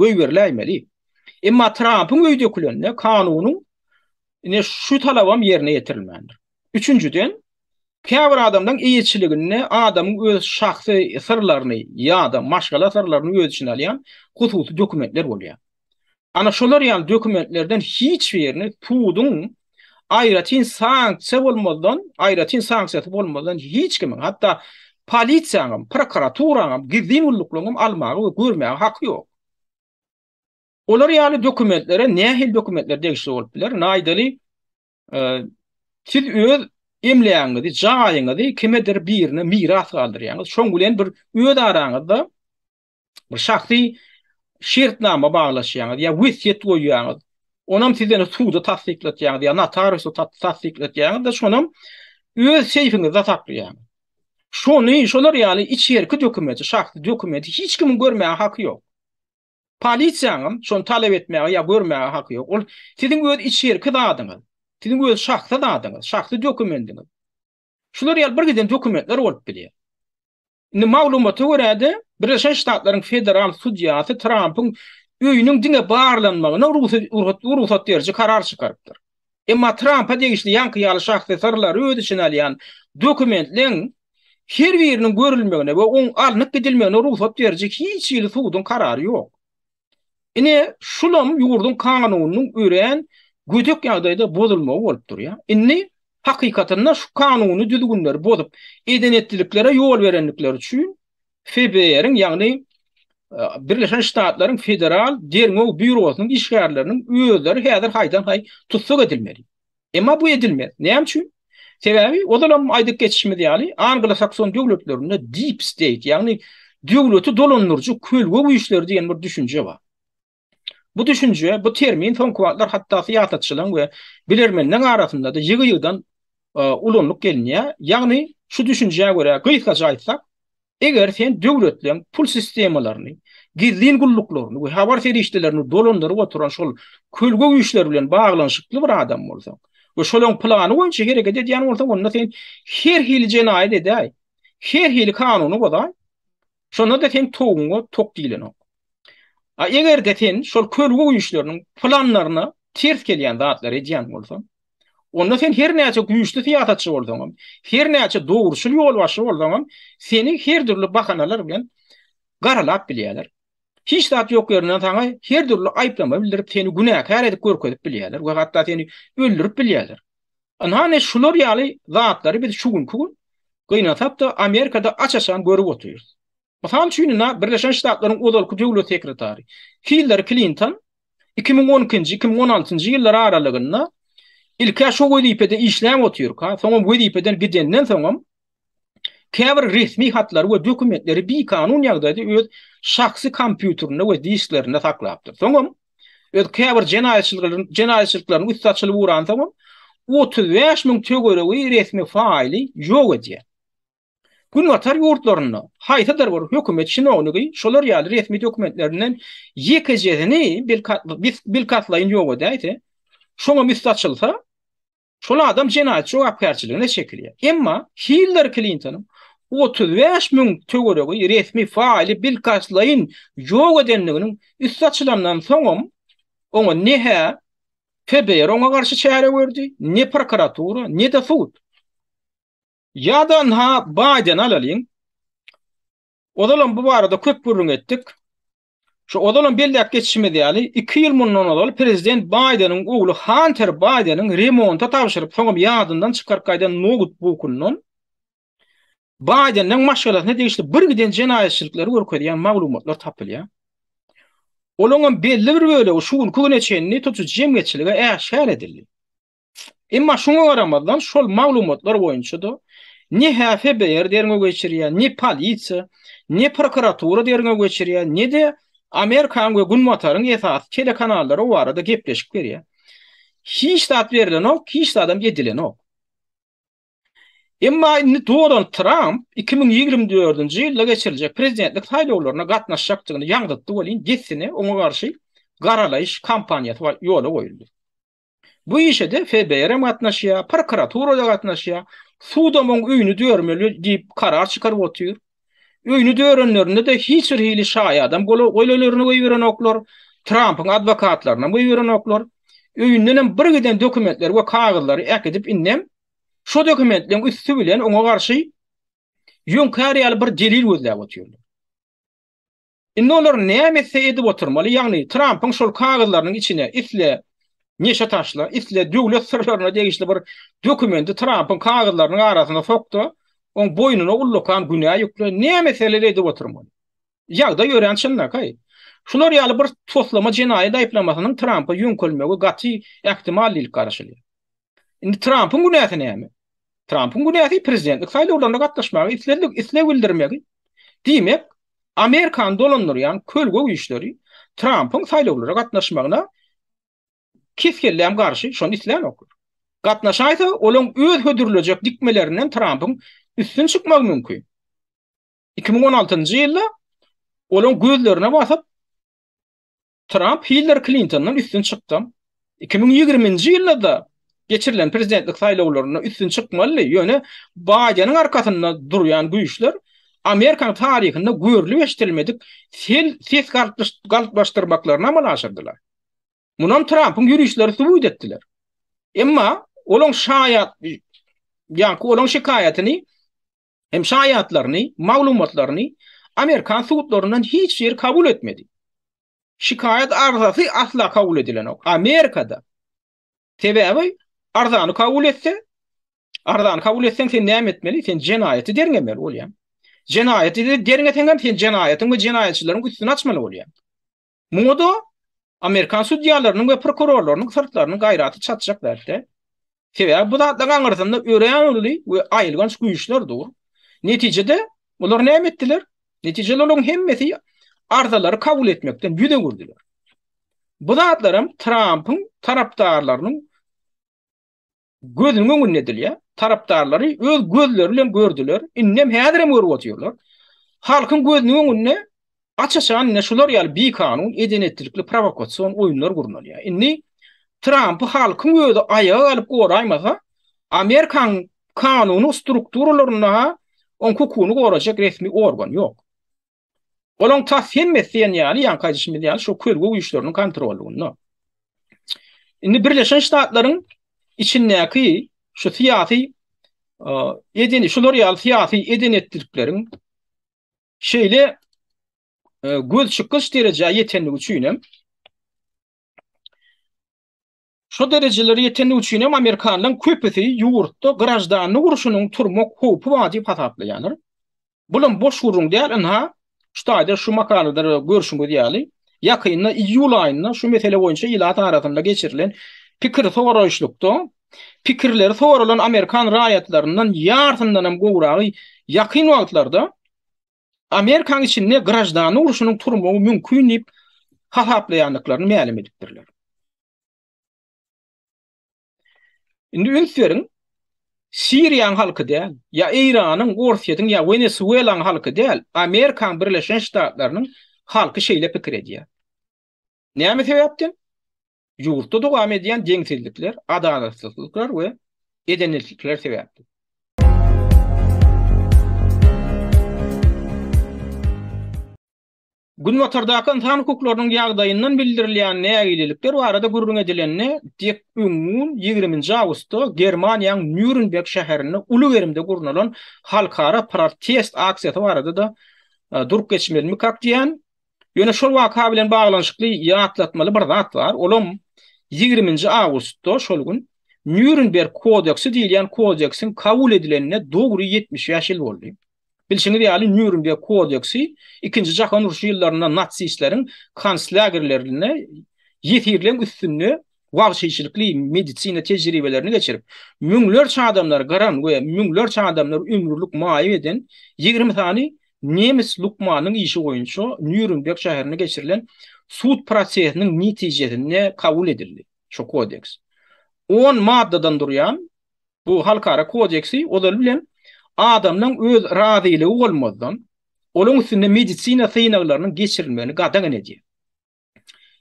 goýberiläýmeli. Emma Trampyň öý dökülende kanunyň ine şu talabam ýerine ýetirilmändir. Üçünjiden, käbir adamlaryň eýeçiliginde adamyň öz şahsy syrlaryny ýa-da maşgala syrlaryny öz içine alýan hususy dokumentler bolýar. Ana şolar ýaly dokumentlerden hiç birini puduň aýratyn sanksiýa bolmazdan, aýratyn sanksiýasy bolmazdan hiç kimiň, hatda polisiýanyň, prokuraturaň, gizlin gulluklaryň almaga we görmäge haky ýok. Olar ýaly dokumentlere nähili dokumentler degişli bolup biler? Naýdaly e, siz öz emlägiňizi, jaýyňyzy kimedir birine miras galdyrýaňyz. Şoň bilen bir öz araňyzda bir şahsy şertnama baglaşýaňyz ýa wesýet goýýaňyz. Onam siz ýene suda tassyklatýaňyz ýa notariusa tassyklatýaňyz-da, şonam öz seýfiňizde saklaýaňyz. Şony, şolar ýaly içerki dokumenti, şahsy dokumenti hiç kimiň görmäge haky ýok. Polisiýanyň şony talap etmäge ýa görmäge haky ýok. Ol siziň öz içerki zadyňyz, siziň öz şahsy zadyňyz, şahsy dokumendiňiz. Şular ýaly bir giden dokumentler bolup bilýär. Indi maglumata görä-de, Birleşen Ştatlaryň federal sudýasy Trampyň öýüniň diňe barlanmagyna rugsat beriji karar çykarypdyr. Emma Trampa degişli ýaňky ýaly şahsy syrlary öz içine alýan dokumentleriň her biriniň görülmegine we oň alnyp gidilmegine rugsat beriji hiç hili suduň karary ýok. Ine, şulam ýurduň kanunynyň örän gödek ýagdaýda bozulmagy bolup durýar. Indi, hakykatynda, şu kanuny düzgünleri bozup, eden-etdiliklere ýol berendikleri üçin FBR-iň, ýagny Birleşen Ştatlaryň Federal derňew býurosynyň işgärleriniň özleri häzir haýdan-haý tussag edilmeli. Emma bu edilmez. Näme üçin? Sebäbi ozalam aýdyp geçişimiz ýaly, anglo-sakson döwletlerinde deep state, ýagny döwleti dolandyryjy kölge güýçleri diýen bir düşünje bar. Bu düşünje, bu termin soňky wagtlar hatda syýasatçylaryň we bilermenleriň arasynda-da ýygy-ýygydan ulanylyp gelinýär. Ýagny şu düşünjä görä gysgaça aýtsak, Eger sen döwletleň pul sistemalaryny, gizlin gulluklaryny we habar serişdelerini dolandyryp oturan şol kölge güýçler bilen baglanyşykly bir adam bolsaň we şolaň plany boýunça hereket edýän bolsaň, onda sen her hili jenaýat edäý, her hili kanuny bozaý, şonda-da seň toguňa tok diýlenok. A eger-de sen şol kölge güýçleriniň planlaryna ters gelýän zatlary edýän bolsaň, Onda sen her näçe güýçli syýasatçy bolsaňam, her näçe dogruçyl ýolbaşçy bolsaňam, seni her dürli bahanalar bilen garalap bilýärler. Hiç zat ýok ýerinden saňa her dürli aýyplama bildirip, seni günäkär edip görkezip bilýärler we hatda seni öldürip bilýärler. Ynhane şular ýaly zatlary biz şu günki gün gynansakda Amerikada aç-açan görüp otyrys. Mysal üçin, indi Birleşen Ştatlaryň ozalky döwlet sekretary Hillary Klinton iki müň on ikinji, iki müň on altynjy ýyllar aralygynda ilk-ä şo wezipede işläp otyrka, soňam wezipeden gidenden soňam käbir resmi hatlary we dokumentleri bikanun ýagdaýda öz şahsy kompýuterinde we disklerinde saklapdyr. Soňam öz käbir jenaýatçylyklaryň jenaýatçylyklaryň üsti açylyp uransoňam otuz bäş müň töweregi resmi faýly ýok edýär. Günbatar ýurtlarynda haýsydyr bir hökümet çinownygy şolar ýaly resmi dokumentlerinden ýekejesini bilkastlaýyn ýok edäýse, şoňa üsti açylsa, şol adam jenaýat jogapkärçiligine çekilýär. Emma Hiller Klintonyň otuz bäş müň töweregi resmi faýly bilkastlaýyn ýok edendiginiň üsti açylandan soňam, oňa ne-hä FBR oňa garşy çäre gördi, ne prokuratura, ne-de sud. Ýa-da ynha Baýdeny alalyň. Ozalam bu barada köp gürrüň etdik. Şu ozalam belläp geçişimiz ýaly, iki ýyl mundan ozal prezident Baýdeniň ogly Hanter Baýdeniň remonta tabşyryp, soňam ýadyndan çykaryp gaýdan noutbukyndan Baýdeniň maşgalasyna degişli birgiden jenaýatçylyklar görkezýän maglumatlar tapylýar. Olaňam belli bir bölegi şu günki güne çenli tutujy jemgyýetçilige äşgär edildi. Emma şoňa garamazdan şol maglumatlar boýunça-da ne HFBR derňew geçirýär, ne polisiýa, ne prokuratura derňew geçirýär, ne-de Amerikanyň we Günbataryň esasy telekanallary o barada gepleşik berýär. Hiç zat berilenok, hiç zadam edilenok. Emma indi Donald Tramp 2024-nji ýylda geçiriljek prezidentlik saýlawlaryna gatnaşjakdygyny ýaňzytdy welin dessine oňa garşy garalaýyş kampaniýasy ýola goýuldy. Bu işe-de FBR-em gatnaşýar, prokuratura-da gatnaşýar. Sudam oň öýüni dörmeli diýip karar çykaryp otyr. Öýüni dörenlerinde-de hiç bir hili şaýadam gole-golelerini goýberenoklar, Trampyň adwokatlarynam goýberenoklar. Öýündenem bir giden dokumentleri we kagyzlary äkidip indem şo dokumentleriň üsti bilen oňa garşy ýöňkär ýaly bir delil gözläp otyrlar. Indi olar näme etse edip oturmaly, ýagny Trampyň şol kagyzlarynyň içine isle neşe taşla, isle döwlet syrlaryna degişli bir dokumendi Trampyň kagyzlarynyň arasyna sok-da, oň boýnuna ullakan günä ýükle, näme etseler edip oturmaly. Ýagdaý örän çynlakaý. Şular ýaly bir toslama jenaýat aýyplamasynyň Trampa ýöňkelmegi gaty ähtimal diýlip garaşylýar. Indi Trampyň günäsi näme? Trampyň günäsi prezidentlik saýlawlaryna gatnaşmaga isledik, isleg bildirmegi. Diýmek, Amerikany dolandyrýan kölge güýçleri Trampyň saýlawlara gatnaşmagyna kes-kelläm garşy, şony islänok. Gatnaşaýsa, olaň öz hödürlejek dikmelerinden Trampyň üstün çykmagy mümkin. 2016-njy ýylda olaň gözlerine basyp, Tramp Hiller Klintondan üstün çykdy. Iki müň ýigrimi nji ýylda-da geçirilen prezidentlik saýlawlarynda üstün çykmalydy, ýöne Baýdeniň arkasynda durýan güýçler Amerikanyň taryhynda görlüp-eşidilmedik sel ses galplaşdyrmaklaryny amala aşyrdylar. Munam Trampyň ýörişleri subut etdiler. Emma olaň şaýat ýaňky olaň şikaýatyny Hem şaýatlaryny, maglumatlaryny amerikan sudlaryndan hiç ýeri kabul etmedi. Şikaýat arzasy asla kabul edilenok. Amerikada. Sebäbi arzany kabul etse, arzany kabul etseň sen näme etmeli? Sen jenaýaty derňemeli bolýar. Jenaýaty derňeseň hem sen jenaýatyň we jenaýatçylaryň üstüni açmaly bolýar. Muňa-da amerikan sudýalarynyň we prokurorlarynyň syrtlarynyň gaýraty çatjak zat däl. Sebäbi bu zatlaryň aňyrsynda örän uly we aýylganç güýçler dur. Netijede, olar näme etdiler? Netijede olaryň hemmesi arzalary kabul etmekden ýüz öwürdiler. Bu zatlar hem Trampyň tarapdarlarynyň Gözüniň öňünde edilýär. Tarapdarlary öz gözleri bilen gördüler, indem häzirem görüp otyrlar. Halkyň gözüniň öňünde aç-açan ine şular ýaly bikanun, eden-etdilikli prowokasion oýunlar gurnalýar. Indi Trampy halkyň özi aýaga galyp goraýmasa, Amerikanyň kanuny strukturalarynda-ha oň hukugyny gorajak resmi organ ýok. Olaň tas hemmesi diýen ýaly, ýaňky aýdyşymyz ýaly şu kölge güýçleriniň kontrollygynda. Indi Birleşen Ştatlaryň içindäki şu syýasy edeni şular ýaly syýasy edenetlikleriň şeýle göz çykyş derejä ýetenligi üçin hem Şu derejelere ýetendigi üçin hem amerikanlaryň köpüsi ýurtda graždanlyk urşunyň turmak howpy bar diýip hasaplaýarlar. Bulam boş gürrüň däl, ynha, şu taýda şu makalada görşüňiz ýaly, ýakynda iýul aýynda şu mesele boýunça ilat arasynda geçirilen pikir soraýyşlykda pikirleri soralan amerikan raýatlaryndan ýarsyndanam gowragy ýakyn wagtlarda Amerikanyň içinde graždan urşunyň turmagy mümkin diýip hasaplaýandyklaryny mälim edipdirler. Indi üns beriň, Siriýanyň halky däl, ýa Eýranyň, Orsýetiň ýa Wenesuelaň halky däl, Amerikanyň Birleşen Ştatlarynyň halky şeýle pikir edýär. Näme sebäpden? Ýurtda dowam edýän deňsizlikler, adalatsyzlyklar we edenetlikler sebäpli. Günbatardaky ynsan hukuklarynyň ýagdaýyndan bildirilýän nägilelikler barada gürrüň edilende, dek öňňun ýigrimi nji awgustda Germaniýaň Nýurnberg şäherinde uly gerimde gurnalan halkara protest aksiýasy barada-da e, durup geçmelmikak diýen Ýöne şol waka bilen baglanyşykly ýatlatmaly bir zat bar, olam ýigriminji awgustda şol gün Nýurnberg kodeksi diýilýän kodeksiň kabul edilenine dogry ýetmiş bäş ýyl boldy. Bilşiňiz ýaly, Nýurnberg kodeksi Ikinji jahan urşy ýyllarynda natsistleriň konslagerlerinde ýesirleň üstünde wagşyçylykly medisina tejribelerini geçirip, müňlerçe adamlary gyran we müňlerçe adamlary ömürlik maýyp eden ýigrimi sany nemes lukmanynyň işi boýunça Nýurenberg şäherinde geçirilen sud prosesiniň netijesinde kabul edildi. Şu Kodeks on maddadan durýan bu halkara kodeksi ozal bilen adamlaryň öz razylygy bolmazdan, olaryň üstünde medisina synaglarynyň geçirilmegini gadagan edýär.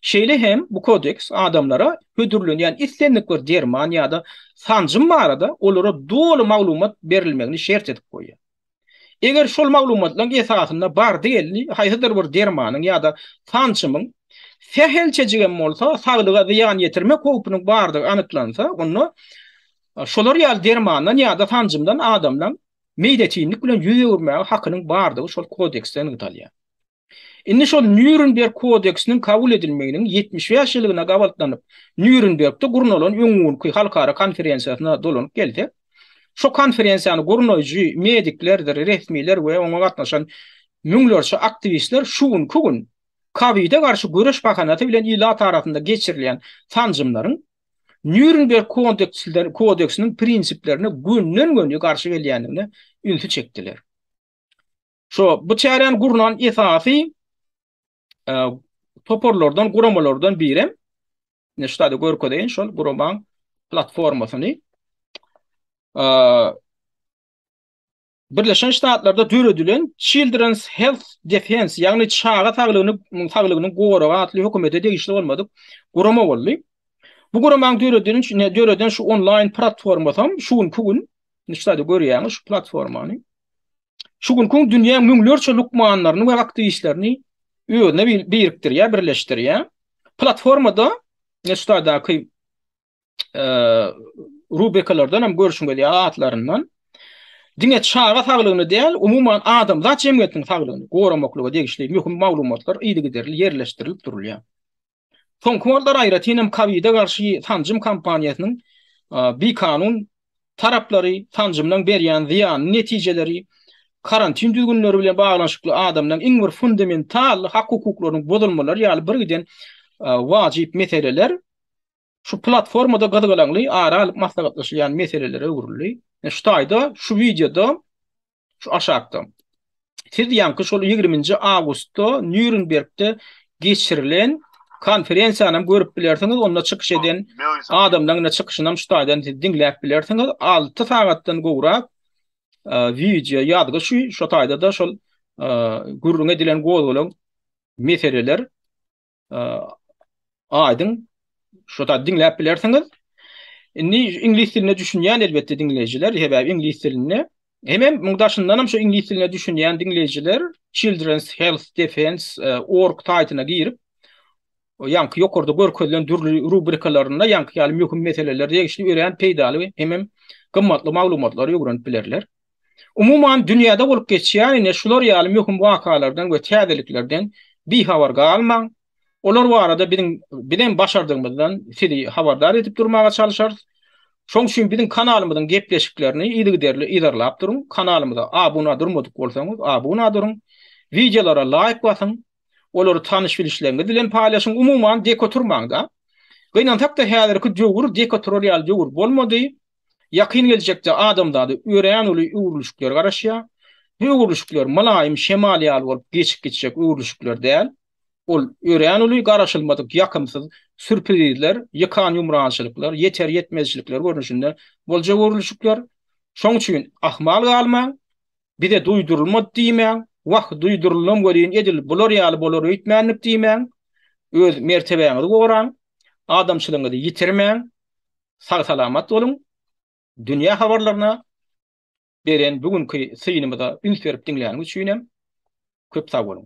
Şeýle hem bu Kodeks adamlara hödürlenýän islendik bir derman ýa-da sanjym barada olara doly maglumat berilmegini şert edip goýýar. Eger şol maglumatlaryň esasynda bardy-geldi haýsydyr bir dermanyň ýa-da sanjymyň sähelçejik hem bolsa saglyga zyýan ýetirmek howpunyň bardygy anyklansa, onda şolar ýaly dermandan ýa-da sanjymdan adamlaryň meýletinlik bilen ýüz öwürmäge hakynyň bardygy şol Kodeksde nygtalýar. Indi şol Nýurenberg kodeksiniň kabul edilmeginiň ýetmiş bäş ýyllygyna gabaltlanyp, Nýurenbergde gurnalan öň günki halkara konferensiýasyna dolanyp gelsek, şo konferensiýany gurnaýjy mediklerdir resmiler we oňa gatnaşan müňlerçe aktiwistler şu günki gün kowide garşy göreş bahanasy bilen ilat arasynda geçirilýän sanjymlaryň Nýurenberg kodeksiniň prinsiplerine gönden-göni garşy gelýändigine ünsi çekdiler. Şo bu çäräni gurnan esasy e, toparlardan, guramalardan birem ne ştada görkezeýin şol guramaň platformasyny e, Birleşen Ştatlarda döredilen Children's Health Defense, ýagny çaga saglygyny saglygyny goragy atly hökümete degişli bolmadyk gurama boldy. Bu guramaň döredilen üçin döreden şu onlaýn platformasy şu günki gün nişde görýäňiz şu platformany. şu günki dünýäň müňlerçe lukmanlaryny we aktiwistlerini özüne birikdirýär, birleşdirýär. Platformada Nestadaky e, rubekalardan hem görüşüň gelýär atlaryndan. Diňe çaga saglygyny däl, umuman adamzat jemgyýetiniň saglygyny goramaklyga degişli möhüm maglumatlar yzygiderli ýerleşdirilip durulýar. Soňky wagtlar aýratyn hem kowide garşy sanjym kampaniýasynyň bikanun taraplary, sanjymlaryň berýän zyýanly netijeleri, karantin düzgünleri bilen baglanyşykly adamlaryň iň bir fundamental hak-hukuklarynyň bozulmalary ýaly birgiden wajyp meseleler şu platformada gyzgalaňly ara alyp maslahatlaşylýan meselelere öwrüldi. Şu taýda şu wideoda şu aşakda. Siz ýaňky şol ýigriminji awgustda Nýurenbergde geçirilen konferensiýany hem görüp bilersiňiz, onda çykyş eden adamlaryň da çykyşyny hem şu taýdan siz diňläp bilersiňiz. Alty sagatdan gowrak e, wideo ýazgy şu, şu taýda-da şol e, gürrüň edilen gozgalaň meseleler aýdyň şu da diňläp bilersiňiz. Indi iňlis diline düşünýän elbetde diňleýjiler, sebäbi iňlis dilinde hem hem muň daşyndan hem şu iňlis diline düşünýän diňleýjiler Children's Health Defense e, org saýtyna girip ýaňky ýokarda görkezilen dürli rubrikalarynda ýaňky ýaly möhüm meseleler degişli örän peýdaly hem hem gymmatly maglumatlary öwrenip bilerler. Umuman, dünýäde bolup geçýän ine şular ýaly möhüm wakalardan we täzeliklerden bihabar galmaň. Olar barada biziň bizem başardygymyzdan sizi habardar edip durmaga çalyşarys. Şoň üçin biziň kanalymyzyň gepleşiklerini yzygiderli yzarlap duruň. Kanalymyza abuna durmadyk bolsaňyz, abuna duruň. Wideolara laýk basyň. Olary tanyş-bilişleriňiz bilen paýlaşyň. Umuman, dik oturmaň-da. Gynansak-da, häzirki döwür dik oturar ýaly döwür bolmady. Ýakyn geljekde adamzady örän uly öwrülişikler garaşýar. Bu öwrülişikler mylaýym şemal ýaly bolup geçip gitjek öwrülişikler däl. Ol örän uly garaşylmadyk ýakymsyz sürprizler, ýykan-ýumrançylyklar, ýeter-ýetmezçilikler görnüşinde boljak öwrülişikler. Şoň üçin ahmal galmaň. Bize duýdurylmady diýmäň. Wah, duýduryldym welin edil bular ýaly bolar öýtmändik diýmäň. Öz mertebäňizi goraň. Adamçylygyňyzy ýitirmäň. Sag salamat boluň. Dünýä habarlaryna beren bu günki synymyza üns berip diňläniň üçin hem köp sag boluň.